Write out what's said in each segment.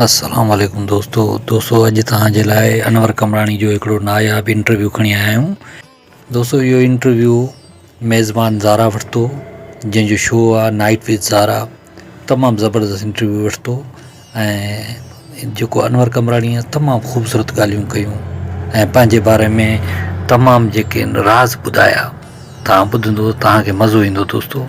السلام عليڪم دوستو دوستو اڄ توهان جي لاء انور قمراڻي جو هڪڙو ناياب انٽرويو کڻي آيا آهيون دوستو اهو انٽرويو ميزبان زارا ورتو جنهن جو شو آهي نائٽ وٿ زارا تمام زبردست انٽرويو ورتو ۽ جيڪو انور قمراڻي تمام خوبصورت ڳالهيون ڪيون ۽ پنهنجي باري ۾ تمام جيڪي راز ٻڌايا توهان ٻڌندو توهان کي مزو ايندو دوستو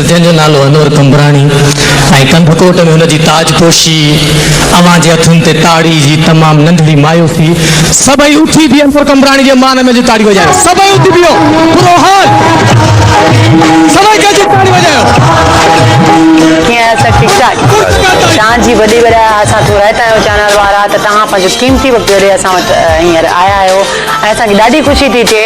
جنهن جو نالو انور قمبراڻي ۽ ڪنڌڪوٽ ۾ هن جي تاج پوشي، اوهان جي هٿن تي تاڙي جي تمام ننڍڙي مايوسي. سڀئي اٿي بيهي انور قمبراڻي جي مان ۾ جي تاڙي وڄايو. سڀئي اٿي بيهو. برو حال. سڀئي گڏجي تاڙي وڄايو. ڪيئن آهيو سر ٺيڪ ٺاڪ شان جي وڏي وڏا اسان ٿورا آهي تنهنجو چينل وارا ته توهان پنهنجو قيمتي وقت ڪڍي اسان وٽ هينئر آيا آهيو ۽ اسان کي ڏاڍي خوشي ٿي ٿئي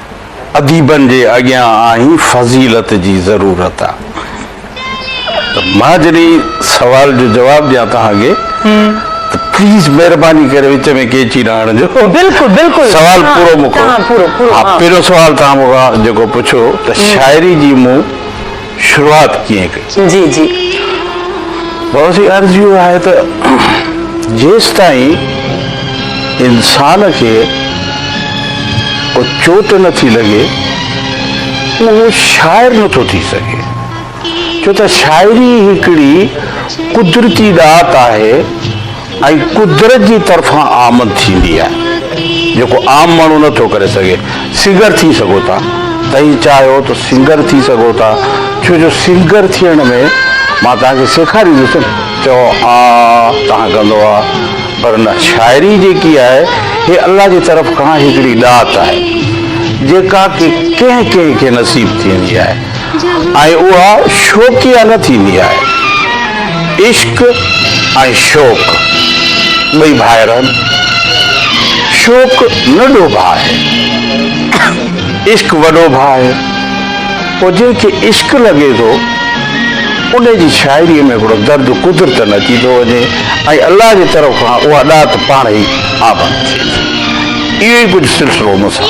اديبن جي اڳيان آهين فضيلت جي ضرورت آ ته مان جڏهن سوال جو جواب ڏيان توهان کي ته پليز مهرباني ڪري وچ ۾ قيچي نه هڻجو بلڪل بلڪل سوال پورو مڪو ها پورو پورو ها پهريون سوال توهان مون کان جيڪو پڇيو ته شاعري جي مون شروعات ڪيئن ڪئي؟ جي جي. بابا سي عرض اهو آهي ته جيستائين انسان کي ڪو چوٽ نٿي لڳي اهو شاعر نٿو ٿي سگهي ڇو ته شاعري هڪڙي قدرتي ڏات آهي ۽ قدرت جي طرفان آمد ٿيندي آهي جيڪو عام ماڻهو نه ٿو ڪري سگهي. سنگر ٿي سگهو ٿا توهين چاهيو ته سنگر ٿي سگهو ٿا ڇو جو سنگر ٿيڻ ۾ مان توهان کي سيکاريندس نه چئو آء تان ڪندو آ پر نه شاعري جيڪي آهي هي الله جي طرف کان هڪڙي ڏات آهي جيڪا ڪي ڪنهن ڪنهن کي نصيب ٿيندي آهي. ۽ اها شوقيه نه ٿيندي آهي. عشق ۽ شوق ٻئي ڀائر آهن. شوق ننڍو ڀاء آهي. عشق وڏو ڀاء آهي. پوء جنهن کي عشق لڳي ٿو، ان جي شاعريء ۾ هڪڙو درد قدرتن اچي ٿو وڃي ۽ الله جي طرف کان اها ڏات پاڻهي ئي آباد ٿئي ٿي. اهو ئي ڪجهه سلسلو مون سان.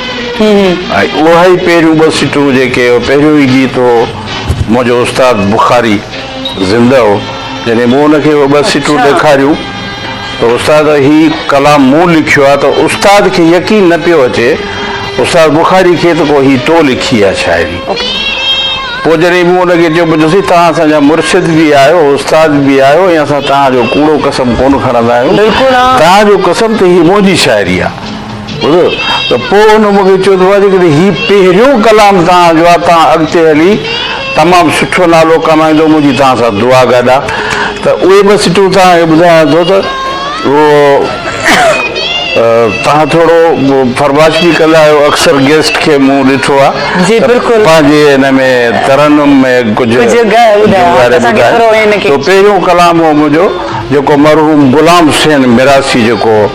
۽ اهي ئي پهريون ٻه سٽون جيڪي اهو پهريون ئي گيت هو منهنجو استاد بخاري زنده هو جڏهن مون ان کي اهي ٻه سٽون ڏيکاريون ته استاد هي ڪلام مون لکيو آهي ته استاد کي يقين نه پيو اچي استاد بخاري کي ته ڪو هي تو لکي آهي شاعري پوء جڏهن مون ان کي چيو پيو ڏسي توهان اسان جا مرشد به آهيو استاد به آهيو ۽ اسان توهان جو ڪوڙو قسم ڪونه کڻندا آهيون توهان جو قسم ته هي منهنجي شاعري آهي ٻڌو ته پوء هن مون کي چيو ته بابا جيڪڏهن هي پهريون ڪلام توهان جو آهي توهان اڳتي هلي تمام سٺو نالو ڪمائيندو منهنجي توهان سان دعا گڏ آهي ته اهي ٻه سٽون توهان کي ٻڌايان ٿو ته توهان ٿورو فرمائش به ڪندا آهيو اڪثر گيسٽ کي مون ڏٺو آهي ته پنهنجي هن ۾ ترنم ۾ ڪجهه ٻڌايو ته پهريون ڪلام هو منهنجو جيڪو مرحوم غلام حسين ميراثي جيڪو